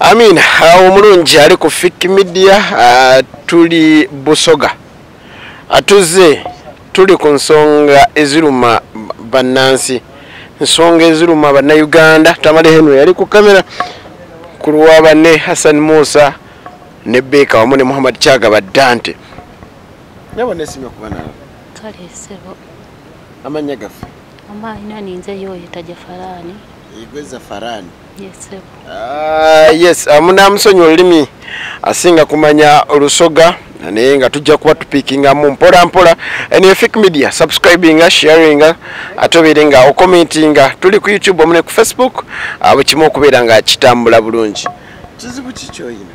amin ah, omulungi ali ku fik media ah, tuli busoga atuze tuli ku nsonga eziruma bannansi nsonga eziruma bannayuganda tamale henry yali ku kamera ku lwa banne hassan musa ne beeka wamu ne muhammad kyagaba dante nyabo nesimye kuba nawe kale sebo amanya gafe ama ina ninze yoyo taja farani igweza farani yes sebo uh, yes amuna musonyi olimi asinga kumanya olusoga naye nga tujja kuba tupikinga mu mpola mpola ene fik media subscribinga sharinga ate obeere nga okomentinga tuli ku youtube omune ku facebook abo kimu okubeera nga kitambula bulungi kizibu kikyoyina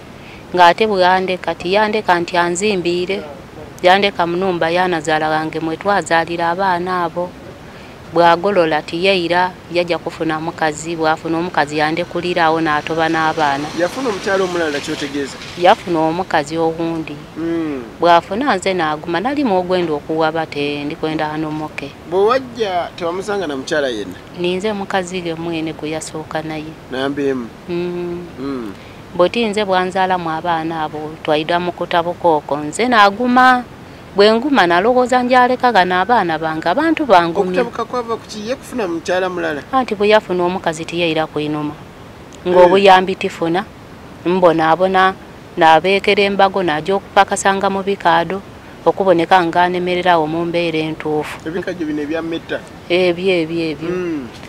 ng'ate bweyandeka kati yandeka nti anzimbiire yandeka munumba yanazala wange mwetwazalira abaana abo bwagolola tiyeira yaja kufuna mukazi bwafuna omukazi yandekulira awo natoba n'abaana yafuna omukyalo omulala kyotegeeza yafuna omukazi owundi hmm. bwafuna nze naguma nalimu ogwenda okuwa bate ndikwenda anomoke bwewajja tewamusanga na mukyala yenna ninze mukazi ge mwene gwe yasooka naye nambeemu mm. mm. bweti nze bwanzaalamu abaana abo twaida mu kutabuka okwo nze naguma bwe nguma nalowooza njaleka gano abaana bange abantu bangumyaanti bwe yafuna omukazi tiyeira kuinuma ng'obuyambi eh. tifuna mbonaabona nabeekera embago naja okupakasanga mu bikaado okuboneka nganemererawo mu mbeera entuufu ebyo ebyo ebyo hmm.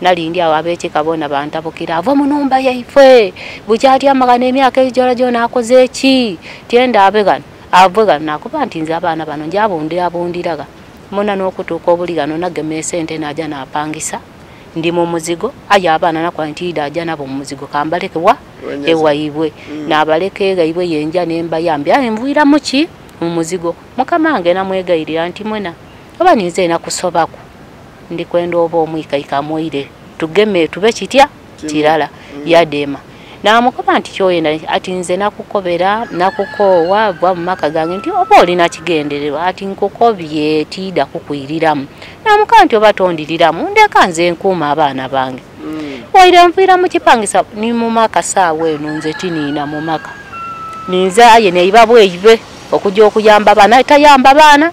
nalindi awo abekika bona bantabukira ava munumba yaifwe bukyati amagana emyaka egijola gyona akoze eki tyenda abe gano avwe gano nakuba nti nze abaana bano njabundabundiraga muna nokutuuka obuli gano nagema esente naja napangisa ndi mu muzigo aye abaana nakuba nti ida aja nabo mumuzigo kambaleke wa ewaibwe mm. nabaleka egaibwe yenja nembayambi aye nvuiramuki mumuzigo mukama nge namwegairira nti mwena oba ninze ena kusobaku ndi kwenda oba omwikaika moire tugeme tube kitya kirala mm. yadema namukoba nti kyoyenda ati nze nakukobera nakukoowa bwa mumaka gange nti oba olina kigendererwa ati nkukobye tida kukwiriramu namuka nti oba tondiriramu ndeka nze nkuuma abaana bange mm. waire nviira mukipangisa ni mumaka saawa eno nze tiniina mumaka ninze aye neibabweibe okuja okuyamba baana tayamba baana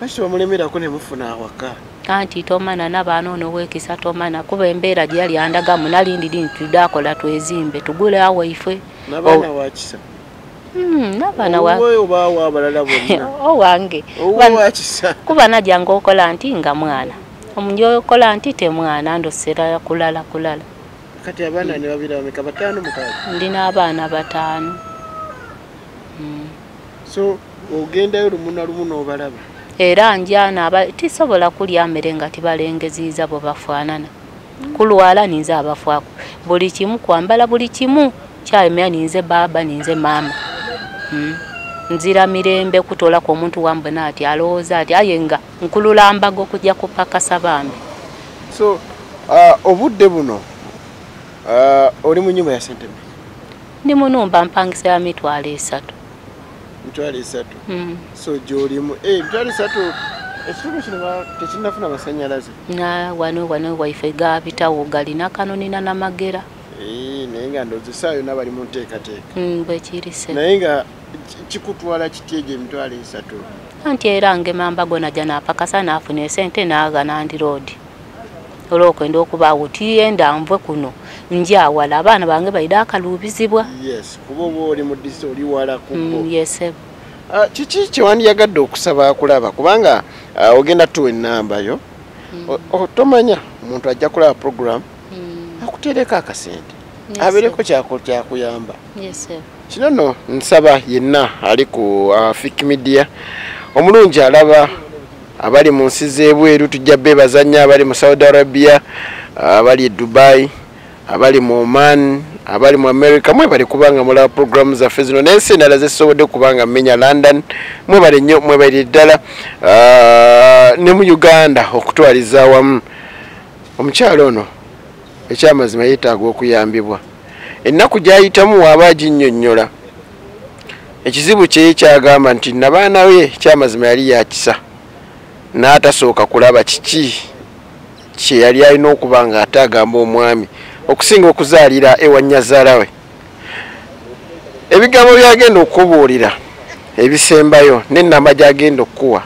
Kati bamulemerako ne mufuna awaka. Kanti tomana nabaana ono wekisa tomana kuba embeera gye yali andagamu nali ndi dini tudde akola twezimbe tugule awo ife. Nabaana oh. wakisa. Hmm, nabaana wa. Owe oba awo abalala bonna. Owange. Owe wakisa. Kuba najja ngokola nti nga mwana. Omunjo okola nti te mwana ndo sera kulala kulala. Kati abaana ne babira bameka batano mukali. Ndina abaana batano. Hmm. so ogendayo lumu na lumu n'obalaba era njana aba tisobola kulya mmere nga tibalengeziiza bwe bafaanana kulwala ninze abafwako buli kimu kwambala buli kimu kyayomya ninze baaba ninze maama hmm. nzira mirembe kutolako omuntu wambe naati alowooza ati aye nga nkulula mbaga okujja kupakasa bambi so uh, obudde buno uh, oli mu nyumba ya sentebe ndi munumba mpangisa ya mitwalo esatu mitwalo esatu mm. so gyolimu eh, mitwalo esatu ekitundu kino tekinafuna masanyalaze wano wano waife gabitawo galina kanonina namagera eh, naye nga ndozesaayo nabali mu nteekateeka mm, bwekirise naye nga kikutwala kiti egyo emitwalo esatu anti era ngemamba gona janapakasa nafuna esente nagana ndi roodi olwokwenda okubaawo tuyenda nve kuno njawala abaana bange baire akaluubizibwa kiki kyewandiyagadde okusaba akulaba kubanga ah, ogenda tuwa enamba yo mm. tomanya omuntu ajja kulaba program mm. akutereko akasente abeereko kyakuyamba kino no nsaba yenna ali ku ah, fik media omulungi alaba abali mu nsi z'ebweru tujja beebaza nnyo abali mu saudi arabia abali e dubai abali mu oman abali mu america mwebale kubanga mulaba programu zaffe zino nensi endala zezisobodde kubanga menya london mwebale nnyo mwebalire ddala ah, ne mu uganda okutwaliza awamu omukyalo ono ekyamazima yeetaaga okuyambibwa ennaku gyayitamu waaba aginyonyola ekizibu kye kyagamba nti nabaana we kyamazima yali yakisa n'atasooka kulaba kiki kye yali alina okuba nga ate agamba omwami okusinga okuzaalira ewa nyazaala we ebigambo byagenda okukubuulira ebisembayo n'ennamba gyagenda okukuwa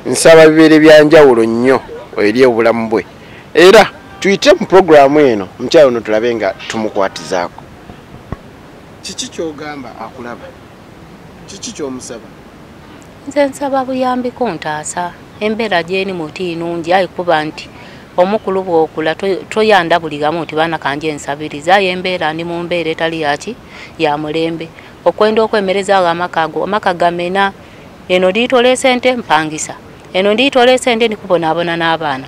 nsaba bibeere byanjawulo nnyo eri obulamu bwe era tuyite mu puroguramu eno omukyalo ono tulabe nga tumukwatizaako kiki kyogamba akulaba kiki kyomusaba nze nsaba buyambi kuntaasa embeera gyeni muti nungi ayi kuba nti omukulu bwokula toyanda buli gamu nti baana kanje ensabiriza ayo embeera ndi mu mbeera etali yaki ya mulembe okwenda okwemereza awo amaka ago amaka gamena eno ndiitola esente mpangisa eno ndiitola esente ndikubonaabona n'abaana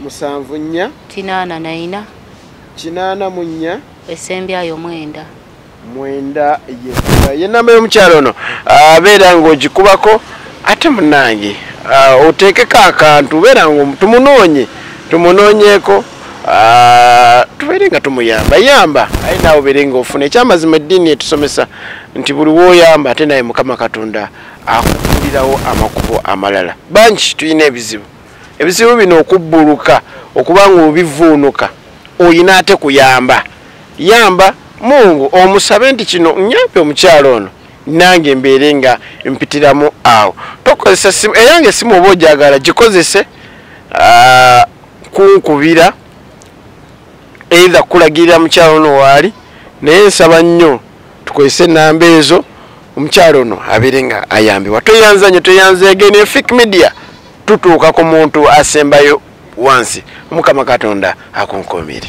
musanvu nnya kinaana naina kinaana mu nnya esembyayo mwenda mwenda yekka ye namba y'omukyalo ono abeera ah, ng'ogikubako ate munange ah, oteekeko akantu beera nga tumunoonye tumunoonyeeko ah, tubeere nga tumuyamba yamba aye naawe obeere nga ofuna ekyamazima eddiini etusomesa nti buli woyamba ate naye mukama katonda akukulirawo amakubo amalala bangi tulina ebizibu ebizibu bino okubbuluka okuba nga obivuunuka oyina ate kuyamba yamba mungu omusabe nti kino nyampi omukyalo ono nange mbeere nga mpitiramu awo tokozesa simu eyange esimu oba ojagala gikozese ah, kunkubira eitha kulagirira mukyalo ono waali naye nsaba nnyo tukozese enamba ezo omukyalo ono abeere nga ayambibwa tweyanza nyo tweyanza egene fik media tutuuka ku muntu asembayo wansi omukama katonda akunkumire